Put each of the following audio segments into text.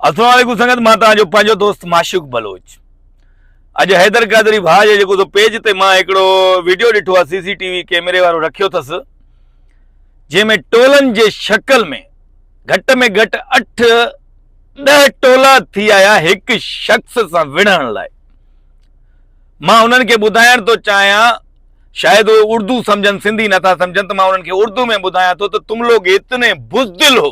السلام عليڪم سنگت مان توهان جو پنهنجو دوست معشوق بلوچ اڄ حيدر قادري ڀاء جي جيڪو سو پيج تي مان هڪڙو ويڊيو ڏٺو آ سي سي ٽي وي ڪيمري وارو رکيو ٿس جنهن ۾ ٽولن جي شڪل ۾ گهٽ ۾ گهٽ اٺ ڏهه ٽولا ٿي آيا هڪ شخص سان وڙهڻ لاء مان انهن کي ٻڌائڻ ٿو چاهيان شايد اهي اردو سمجهن سنڌي نٿا سمجهن ته مان انهن کي اردو ۾ ٻڌايان ٿو ته تم لوگ اتني بزدل هو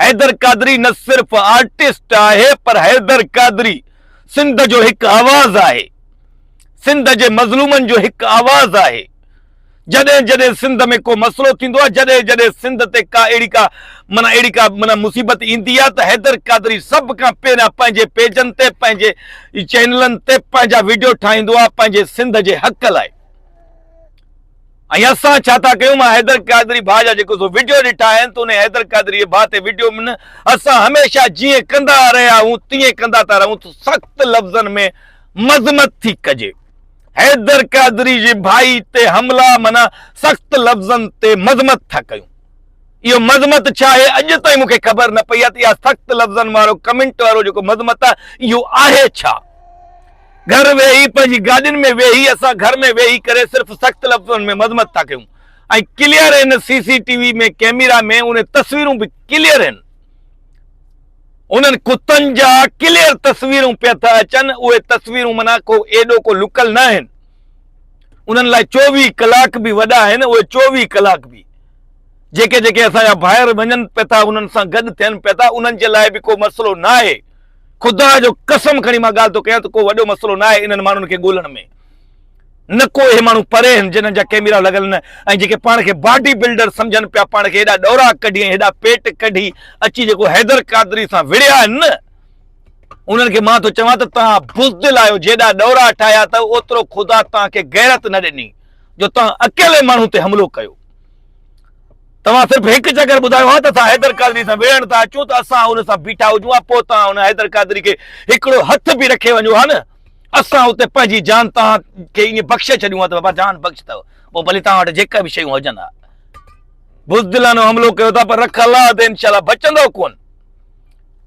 حيدر قادري نه صرف آرٽسٽ آهي پر حيدر قادري سنڌ جو هڪ آواز آهي سنڌ جي مظلومن جو هڪ آواز آهي جڏهن جڏهن سنڌ ۾ ڪو مسئلو ٿيندو آهي جڏهن جڏهن سنڌ تي ڪا اهڙي ڪا مانا اهڙي ڪا مانا مصيبت ايندي آهي ته حيدر قادري سڀ کان پهريان پنهنجي پيجن تي پنهنجي چينلن تي پنهنجا ويڊيو ٺاهيندو آهي پنهنجي سنڌ جي حق لاء ۽ اسان ڇا ٿا ڪيون مان حيدر قادري ڀاء جا جيڪو سو وڊيو ڏٺا آهن ته انهي حيدر قادري ڀاء تي وڊيو م نه اسان هميشه جيئن ڪندا رهيا آهون تيئن ڪندا ٿا رهون ته سخت لفظن ۾ مذمت ٿي ڪجي حيدر قادري جي ڀائي تي حملا معنيٰ سخت لفظن تي مذمت ٿا ڪيون اهو مذمت ڇا آهي اڄ تائين مونکي خبر نه پئي آهي ته اها سخت لفظن وارو ڪمنٽ وارو جيڪو مذمت آهي اهو آهي ڇا گهر ويهي پنهنجي گاڏين ۾ ويهي اسان گهر ۾ ويهي ڪري صرف سخت لفظن ۾ مذمت ٿا ڪيون ۽ clear in C C T V ۾ camera ۾ انهي تصويرون به ڪليئر ان انهن ڪتن جا ڪليئر تصويرون پيا ٿا اچن اهي تصويرون منا ڪو ايڏو ڪو لڪل نه آهن انهن لاء چوويهه ڪلاڪ به وڏا آهن اهي چوويهه ڪلاڪ به جيڪي جيڪي اسان جا ڀائر وڃن پيا ٿا انهن سان گڏ ٿين پيا ٿا انهن جي لاء به ڪو مسئلو نه آهي خدا جو قسم کڻي مان ڳالهه ٿو ڪيان ته ڪو وڏو مسئلو نه آهي انهن ماڻهن کي ڳولڻ ۾. نه ڪو اهي ماڻهو پري آهن جنهن جا ڪئميرا لڳل نه ۽ جيڪي پاڻ کي باڊي بلڊر سمجهن پيا پاڻ کي هيڏا ڏوراڪ ڪڍي ۽ هيڏا پيٽ ڪڍي اچي جيڪو حيدر قادري سان وڙهيا آهن نه انهن کي مان ٿو چوان ته توهان بزدل آهيو جيڏا ڏورا ٺاهيا ته اوترو خدا توهان کي غيرت نه ڏني جو توهان اڪيلي ماڻهو تي حملو ڪيو. توهان صرف هڪ چڪر ٻڌايو ها ته اسان حيدر قادري سان وڙهڻ ٿا اچون ته اسان ان سان بيٺا هجون ها پوء توهان ان حيدر قادري کي هڪڙو هٿ به رکي وڃو ها نه اسان اتي پنهنجي جان توهان کي ائين بخشي ڇڏيون ها ته بابا جان بخش اٿو پوء ڀلي توهان وٽ جيڪا به شيون هجن ها بزدلانو حملو ڪيو ٿا پر رک الله تي انشاء الله بچندو ڪون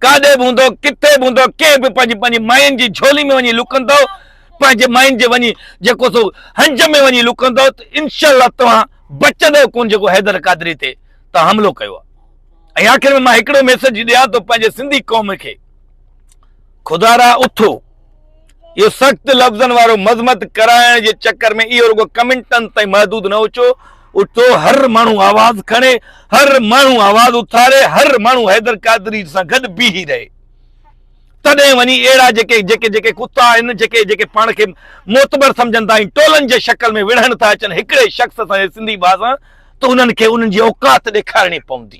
ڪاڏي به هوندو ڪٿي به هوندو ڪنهن به پنهنجي پنهنجي ماين جي جھولي ۾ وڃي لڪندو پنهنجي ماين جي وڃي جيڪو سو هنج ۾ وڃي لڪندو ته انشاء الله توهان بچه ڏيو ڪون جيڪو حيدر قادري تي تان حملو ڪيو آ ۽ آخر ۾ مان هڪڙو ميسج ڏيان ٿو پنهنجي سنڌي قوم کي خدارا اٿو اهو سخت لفظن وارو مذمت ڪرائڻ جي چڪر ۾ اهو رڳو ڪمنٽن تائين محدود نه اچو اٿو هر ماڻهو آواز کڻي هر ماڻهو آواز اٿاري هر ماڻهو حيدر قادري سان گڏ بيهي رهي تڏهن وڃي اهڙا جيڪي جيڪي جيڪي ڪتا آهن، جيڪي جيڪي پاڻ کي معتبر سمجهن ٿا ۽ ٽولن جي شڪل ۾ وڙهڻ ٿا اچن هڪڙي شخص سان يا سنڌي ڀاء سان ته انهن کي انهن جي اوقات ڏيکارڻي پوندي.